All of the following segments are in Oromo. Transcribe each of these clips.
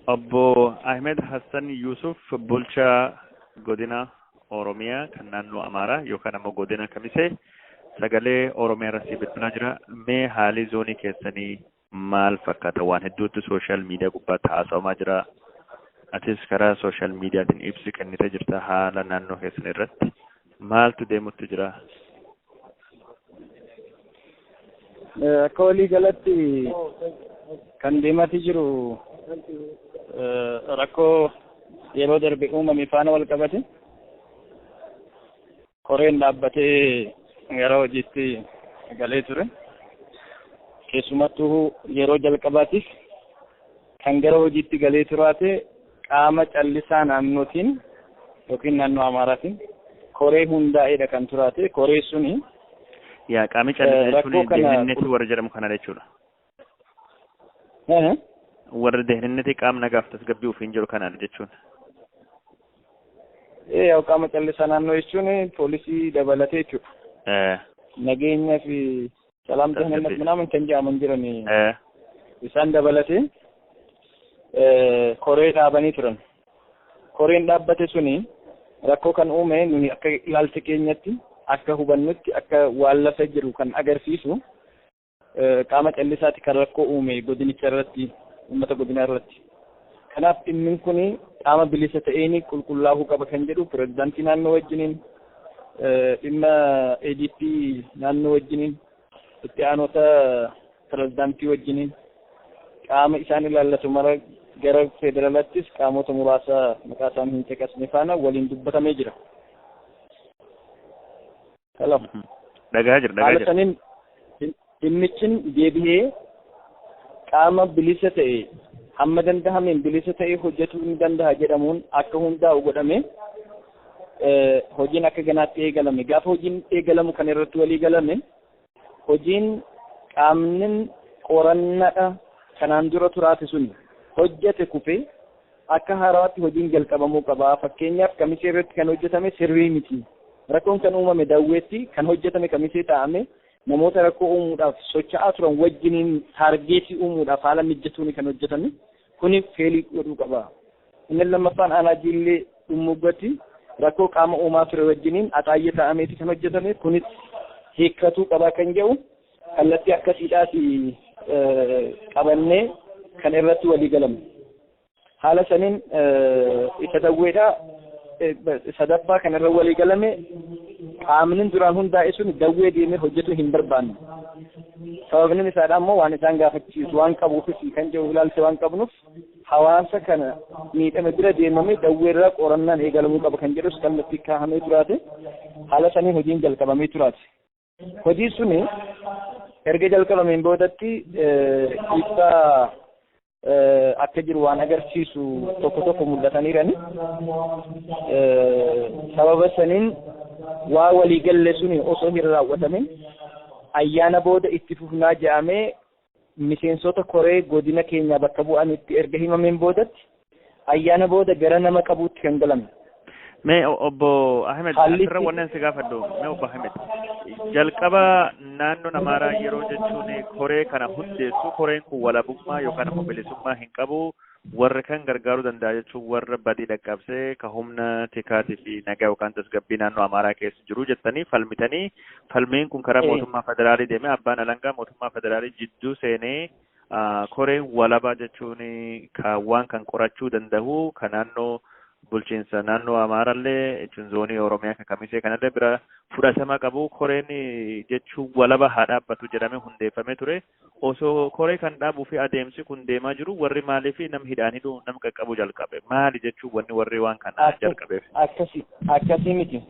Obbo Ahmed Hassan Yuusuf bulchaa godina Oromiyaa kan naannoo Amaaraa yookaan ammoo godina Kamisee sagalee Oromiyaa irratti bilbilaa jira. Mee haalii zoonii keessanii maal fakkaata waan hedduutu sooshaal miidiyaa gubbaatti haasawamaa jira atis karaa sooshaal miidiyaatiin ibsi kennite jirta haala naannoo keessan irratti maaltu deemutti jira Eh, Akka walii galatti kan deematii jiru eh, rakkoo yeroo darbe uumame faana wal qabate Koreen dhaabbatee gara hojiitti galee ture. Keessumattuu yeroo jalqabaatiif kan gara hojiitti galee turaate qaama callisaa naannootiin yookiin naannoo Amaaraatiin koree hundaa'eedha kan turaate. Koree suni Yaa qaamni callisaa jechuun deeminneetti warra jedhamu kana jechuudha. Eh? warri deehinannatii qaamni nagaaf tasgabbii ofiin jiru kanaadha jechuun. Eh, yaa'u qaama callisaa naannoo jechuun poolisii dabalatee jechuudha. Eh, Nageenya fi salaam Tasgabbii. dahannannat minaamin kan jedhaman jiran eh, isaan dabalatee eh, koree dhaabanii turan. Koreen dhaabbate suni rakkoo kan uume nuyi akka ilaalcha keenyatti akka hubannutti akka waan lafa jiru kan agarsiisu Qaama callisaati kan rakkoo uume godinicha irratti, uummata godinaa irratti. Kanaaf dhimmin kun qaama bilisa ta'een qulqullaa'uu qaba kan jedhu pirezidaantii naannoo wajjiniin, dhimma ADP naannoo wajjiniin, itti aanota pirezidaantii wajjiniin qaama isaan ilaallatu mara gara federalaattis qaamota muraasa maqaa isaanii hin caqasne faana waliin dubbatamee jira. Hello. Mhm. Dhagahaa jira dhagahaa Haala jira. saniin dhim- dhimmichin deebi'ee qaama bilisa ta'e hamma dandahameen bilisa ta'e hojjetuu ni danda'a jedhamuun akka hundaa'u godhame eh, hojiin akka ganaatti eegalame. Gaafa hojiin eegalamu kan irratti walii galame hojiin qaamni qorannaadha kanaan dura turaate sun hojjete kufee Akka haarawaatti hojiin jalqabamuu qaba. Fakkeenyaaf Kamisee irratti kan hojjetame sirrii miti. Rakkoon kan uumame Dawweetti, kan hojjetame Kamisee taa'ame namoota rakkoo uumuudhaaf socha'aa turan wajjiniin taargeetii uumuudhaaf haala mijjatuuni kan hojjetame. Kuni feelii godhuu qaba. Inni lammaffaan Aanaa Jiillee Dhummuuggatti rakkoo qaama uumaa ture wajjiniin Axaayyee taa'ameeti kan hojjetame. Kunis hiikkatuu qaba kan jedhu kallattii akkasiidhaati qabannee kan irratti walii galamne. Haala saniin isa dawweedha sadaffaa kan irra walii galame qaamnin duraan hundaa'e sun dawwee deemee hojjetu hin barbaanne. Sababni isaadha ammoo waan isaan gaafachiisu waan qabuufis kan jiru ilaalcha waan qabnuuf hawaasa kana miidhame bira deemamee dawweerraa qorannaan eegalamuu qaba kan jedhus kallattii kaa'amee turaate haala saniin hojiin jalqabamee turaate. Hojii suni erga jalqabameen boodatti ibsa akka jiru waan agarsiisu tokko tokko mul'ataniirani. Sababa saniin waa walii galle suni osoo hin raawwatamin ayyaana booda itti fufnaa jedhamee miseensota koree godina keenyaa bakka bu'anitti erga himameen boodatti ayyaana booda gara nama qabuutti kan galamne. Mee o- obbo Ahmed Haalli asirra itti- wanneen si gaafadhu mee obbo Ahmed jalqaba naannoon Amaaraa yeroo jechuun koree kana hundeessu koreen kun walabummaa yookaan immoo bilisummaa hin qabu Warra kan gargaaruu danda'a jechuun warra badii dhaqqabsee ka humna tikaatii fi nagaa yookaan tasgabbii naannoo Amaaraa keessa jiru jettanii falmitanii falmiin kun karaa Ee. mootummaa federaalii deemee abbaan alangaa mootummaa federaalii jidduu seenee ah, koreen walabaa jechuun ka waan kan qorachuu danda'u ka naannoo bulchiinsa naannoo Amaaraallee jechuun zoonii Oromiyaa ka kamisee kanallee bira fudhatama qabu koreen jechuun walaba haa dhaabbatu jedhamee hundeeffamee ture. Osoo koree kan dhaabuu fi adeemsi kun deemaa jiruu warri maaliif nam hidhaan hidhuu nam qaqqabuu jalqabe? Maali jechuu wanni warri waan kan Akkas jalqabeef? akkasi akkasii miti.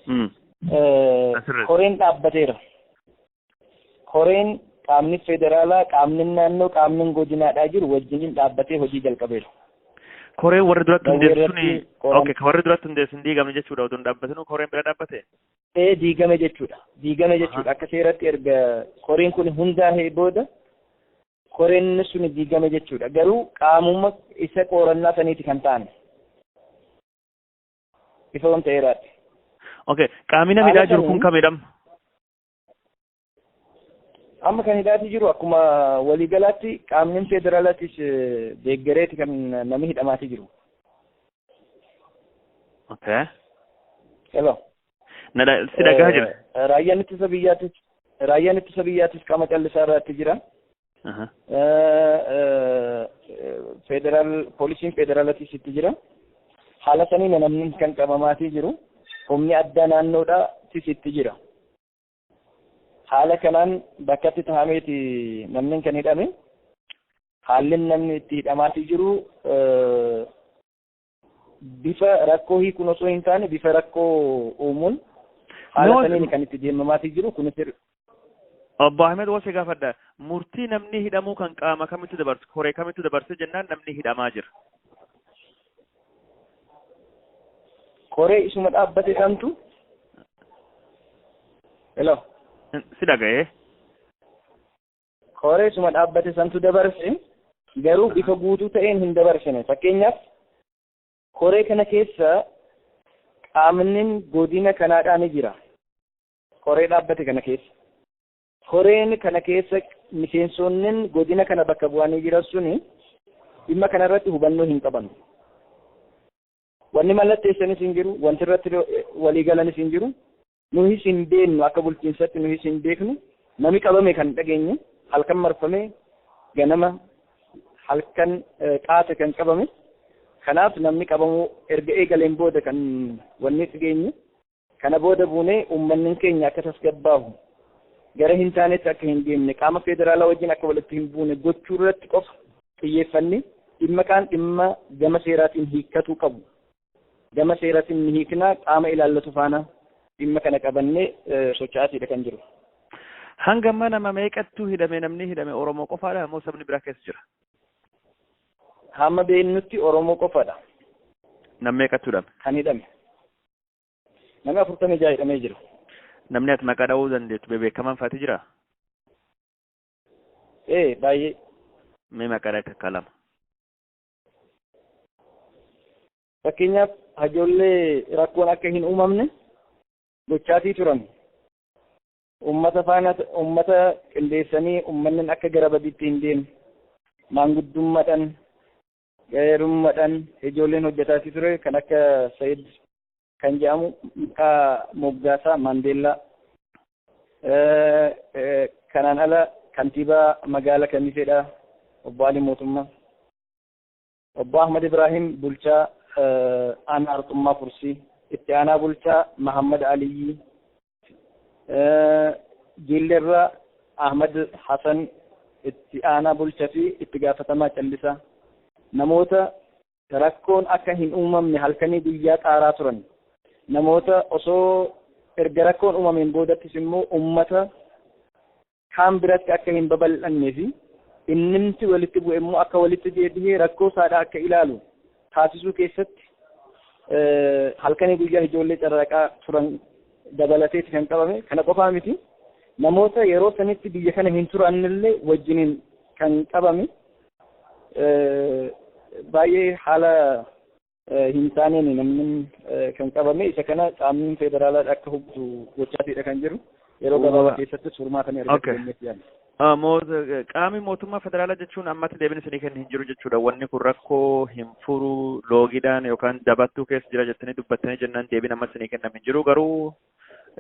Hmm. Eh, Asirratti. Koreen dhaabbateera. Koreen qaamni federaalaa, qaamni naannoo, qaamni godinaadhaa jiru wajjiniin dhaabbatee hojii jalqabeera. Koreen warri duratti Dawwee hundeessu suni irratti qoran- okay, ka warri duratti hundeessu hin diigamne jechuudha odoo hin dhaabbatinuu koreen bira dhaabbate? ee diigame jechuudha diigame Aha. jechuudha akka seeratti erga koreen kun hundaa'ee booda koreen sun diigame jechuudha garuu qaamuma isa qorannaa saniiti kan ta'an ifa wanta eeraatti Okay. Qaamina Haala midhaa jiru kun kamiin- kamidham? Amma kan hidhaatii jiru akkuma waliigalaatti qaamni federaalatis deeggareeti kan namni hidhamaatii jiru. Okay. Hello. Na dha- si dhagahaa jira. Eh, Raayyaan ittisa biyyaatis raayyaan ittisa biyyaatis qaama callisaa irratti jira. Aha. Eh, eh, eh, Federaal poolisiin federaalatis itti jira. Haala saniin namni kan qabamaatii jiru. Humni addaa naannoodhaatis itti jira. Haala kanaan bakkatti tahameeti namni kan hidhame. Haalli namni itti hidhamaatii jiru bifa rakkoo hiikuun osoo hin taane bifa rakkoo uumuun haala Nama- saniin kan itti deemamaatii jiru kunis Obbo Ahmed Wasi gaafadha. Murtii namni hidhamuu kan qaama kamitti dabarse, koree kamitti dabarse jennaan namni hidhamaa jira. Koree isuma dhaabbate santu. Hello. Si dhaga'ee. Koree isuma dhaabbate santu dabarse garuu bifa guutuu ta'een hin dabarsine fakkeenyaaf koree kana keessa qaamnin godina kanaadhaa ni jira koree dhaabbate kana keessa Koreen kana keessa miseensoonnin godina kana bakka bu'anii jiran suni dhimma kana irratti hubannoo hin qabanu. Wanni mallatteessanis hin jiru, wanti irratti walii galanis hin jiru. Nuhis hin beennu akka bulchiinsatti nuhis hin beeknu. Nami qabame kan dhageenye halkan marfamee ganama halkan qaate kan qabame. Kanaaf namni qabamuu erga eegaleen booda kan wanni dhageenye. Kana booda buunee uummannin keenya akka tasgabbaahu, gara hin taanetti akka hin deemne, qaama feederaalaa wajjin akka walitti hin buune gochuu irratti qofa xiyyeeffannee dhimma kaan dhimma gama seeraatiin hiikkatuu qabu gama seeratiin ni hiikna, qaama ilaallatu faana dhimma kana qabannee socha'aatiidha kan jiru. Hanga amma nama meeqattuu hidhame namni hidhame Oromoo qofaadha moo sabni biraa keessa jira? Hamma beeknutti Oromoo qofadha. Nam meeqattuu hidhame? Kan hidhame. Namni afurtamii ja'a hidhamee jira. Namni ati maqaa dha'uu dandeettu bebeekamaan faati jira? Ee baay'ee. Mee maqaa dha'i takka lama. Fakkeenyaaf hajoollee rakkoon akka hin uumamne gochaatii turan. Uummata faana uummata qindeessanii uummanni akka gara badiitti hin deemne maanguddummaadhaan Gaarummadhan ijoolleen hojjataati ture kan akka Sayid kan jedhamu maqaa moggaasaa Maandeellaa kanaan ala kantiibaa magaala Kamiseedha obbo Ali Mootummaa. Obbo Ahmad Ibrahim bulchaa aanaa Arxummaa Fursii, itti aanaa bulchaa Mahammad Aliyyii, Jiillerraa Ahmad Hasan itti aanaa bulcha fi itti gaafatamaa callisaa namoota rakkoon akka hin uumamne halkanii guyyaa xaaraa turan namoota osoo erga rakkoon uumameen boodattis immoo ummata kaan biratti akka hin babal'annee fi innimti walitti bu'e immoo akka walitti deebihee rakkoo isaadhaa akka ilaalu taasisuu keessatti halkanii guyyaa ijoollee carraaqaa turan dabalateeti kan qabame kana qofaa miti namoota yeroo sanitti biyya kana hin turannillee wajjiniin kan qabame baay'ee haala hin taaneen namni kan qabame isa kana qaamni federaalaa akka hubatu gochaatiidha kan jiru yeroo gabaabaa keessatti furmaata ni argatu jennee yaadna. Qaamni mootummaa federaalaa jechuun ammatti deebiin isinii kennu hin jiru jechuudha. Wanni kun rakkoo hin furu loogiidhaan yookaan dabattuu keessa jira jettanii dubbattanii jennaan deebiin amma isinii kennamu hin jiru garuu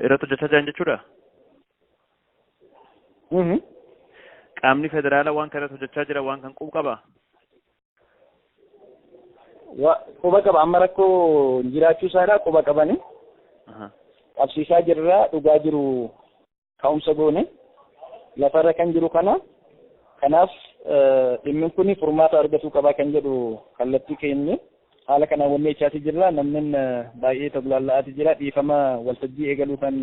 irratti hojjechaa jiran jechuudha. Qaamni federaalaa waan kana irratti hojjechaa jira waan kan qubu qaba. Wa- Quba qaba amma rakkoo jiraachuu isaadha quba qabani Aha. qabsiisaa jirra dhugaa jiru ka'umsa goone lafarra kan jiru kana kanaaf eh, dhimmi kun furmaata argatuu qabaa kan jedhu kallattii keenye Haala kanaan wannii echaati jirra namnin baay'ee toglaalla'aati jira dhiifama waltajjii eegaluu kan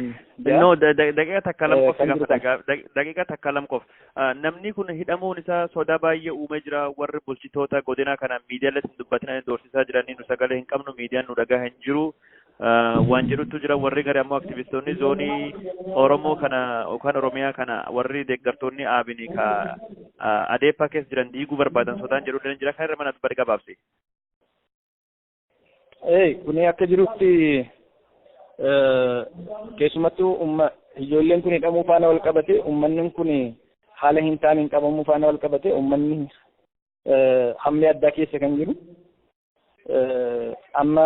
ja'a. No, da- da- daqiiqa takka lam Eh, qof si kan jiru gaafadha. kana. Gaa- daq- Daqiiqa takka lam qof. Ah, Namni kun hidhamuun isaa sodaa baay'ee uumee jira. Warri bulchitoota godinaa kanaan miidiyaalee hin dubbatinaan doorsisaa jiranii nu sagalee hin qabnu, miidiyaan nu dhagaa hin jiru. Ah, Waan jedhutu jira warri gari ammoo aktivistoonni zoonii Oromoo kana yookaan Oromiyaa kana warri deeggartoonni aabinii ka ah, adeepaa keessa jiran diiguu barbaadan sodaan jedhu illee jira. Kan irra mana dubbatti gabaabsi. Ee, kun akka jirutti eh, keessumattuu umma ijoolleen kun hidhamuu faana wal qabate ummanni kun haala hin taaneen qabamuu faana wal qabate ummanni eh, hammee addaa keessa kan jiru eh, amma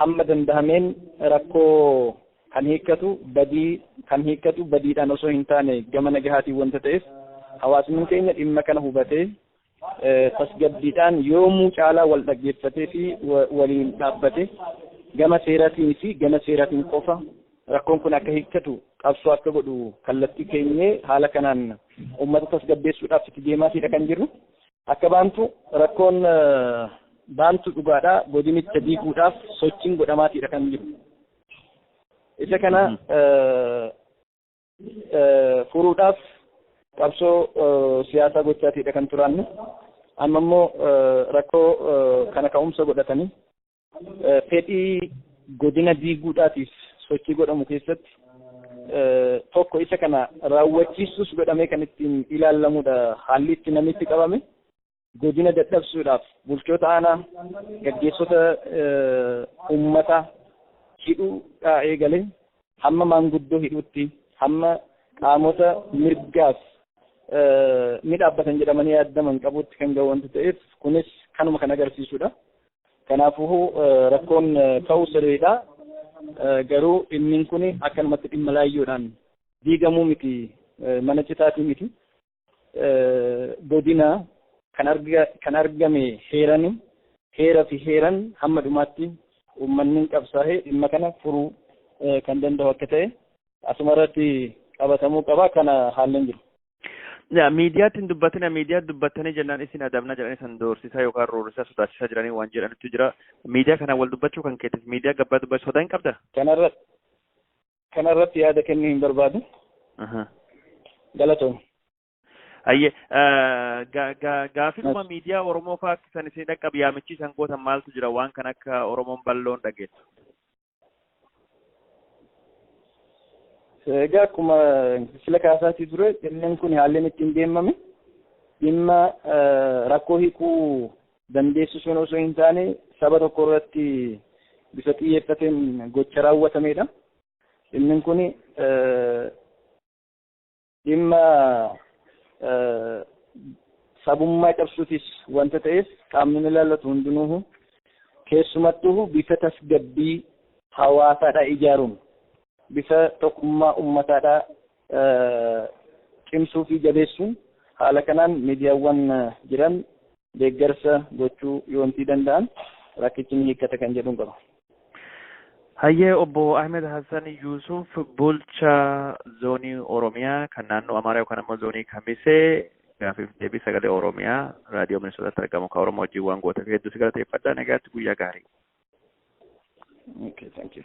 hamma dandahameen rakkoo kan hiikkatu badii kan hiikkatu badiidhaan osoo hin taane gama nagahaatiin wanta ta'eef hawaasni keenya dhimma kana hubatee tasgabbiidhaan yoomuu caalaa wal dhaggeeffatee fi waliin dhaabbate gama seeratiin fi gama seeratiin qofa rakkoon kun akka hiikkatu qabsoo akka godhu kallattii keenyee haala kanaan uummata tasgabbeessuudhaaf itti deemaatiidha kan jirru. Akka baantu rakkoon baantu dhugaadha godinicha diiguudhaaf sochiin godhamaatiidha kan jiru. Isa kana furuudhaaf qabsoo siyaasaa gochaatiidha kan turaanne amma immoo rakkoo kana ka'umsa godhatanii fedhii godina diiguudhaatiif sochii godhamu keessatti tokko isa kana raawwachiisuus godhamee kan ittiin ilaalamudha haalli itti namitti qabame Godina dadhabsuudhaaf bulchoota aanaa gaggeessota ummata hidhuudhaa eegale hamma maanguddoo hidhuutti hamma qaamota mirgaaf ni dhaabbatan jedhamanii yaaddaman qabuutti kan ga'u wanti ta'eef kunis kanuma kan agarsiisudha. Kanaafuu rakkoon ka'uu sirriidha. Garuu dhimmiin kun akkanumatti dhimma laayyoodhaan diigamuu miti mana citaatii miti. godina kan argame heerani. Heera fi heeran hamma dhumaatti uummanni qabsaa'ee dhimma kana furuu kan danda'u akka ta'e asuma irratti qabatamuu qaba kana haallan jiru. Miidiyaatti hin dubbatina miidiyaa dubbattanii jennaan isin adabna jedhanii san doorsisaa yookaan roorrisaa sodaachisaa jiranii waan jedhanitu jira. Miidiyaa kanaan wal dubbachuu kan keetiif miidiyaa gabbaa dubbachuu sodaa hin qabda? Kanarratti Kana irratti yaada kennuu hin barbaadu. Aha. Galatoomi. Hayyee eh, ga- ga- gaafiluma miidiyaa Oromoo fa'aa akka isaan isin dhaqqabu yaamichi isaan gootan maaltu jira waan kan akka Oromoon balloon dhageessu. Egaa akkuma sila kaasaatii ture dhimmiin kun haalli inni ittiin deemame dhimma eh, rakkoo hiikuu dandeessisuun osoo hin taane saba tokko irratti bifa xiyyeeffateen gocha raawwatameedha. Dhimmin kun dhimma sabummaa cabsuutis wanta ta'eef qaamni ilaallatu hundinuuhu keessumattuu bifa tasgabbii hawaasaadhaa ijaaruun bifa tokkummaa uummataadhaa cimsuu fi jabeessuun haala kanaan miidiyaawwan jiran deeggarsa gochuu yoontii danda'an rakkichi ni hiikkata kan jedhuun qaba. Hayyee obbo Ahmed Hassan Yuusuf bulcha zoonii Oromiyaa kan naannoo Amaaraa yookaan ammoo zoonii Kamisee gaafiif deebii sagalee Oromiyaa raadiyoo Minisootaatti argamu kan Oromoo wajjin waan gooteef hedduu si galateeffadha nagaatti guyyaa gaarii. Okay, thank you.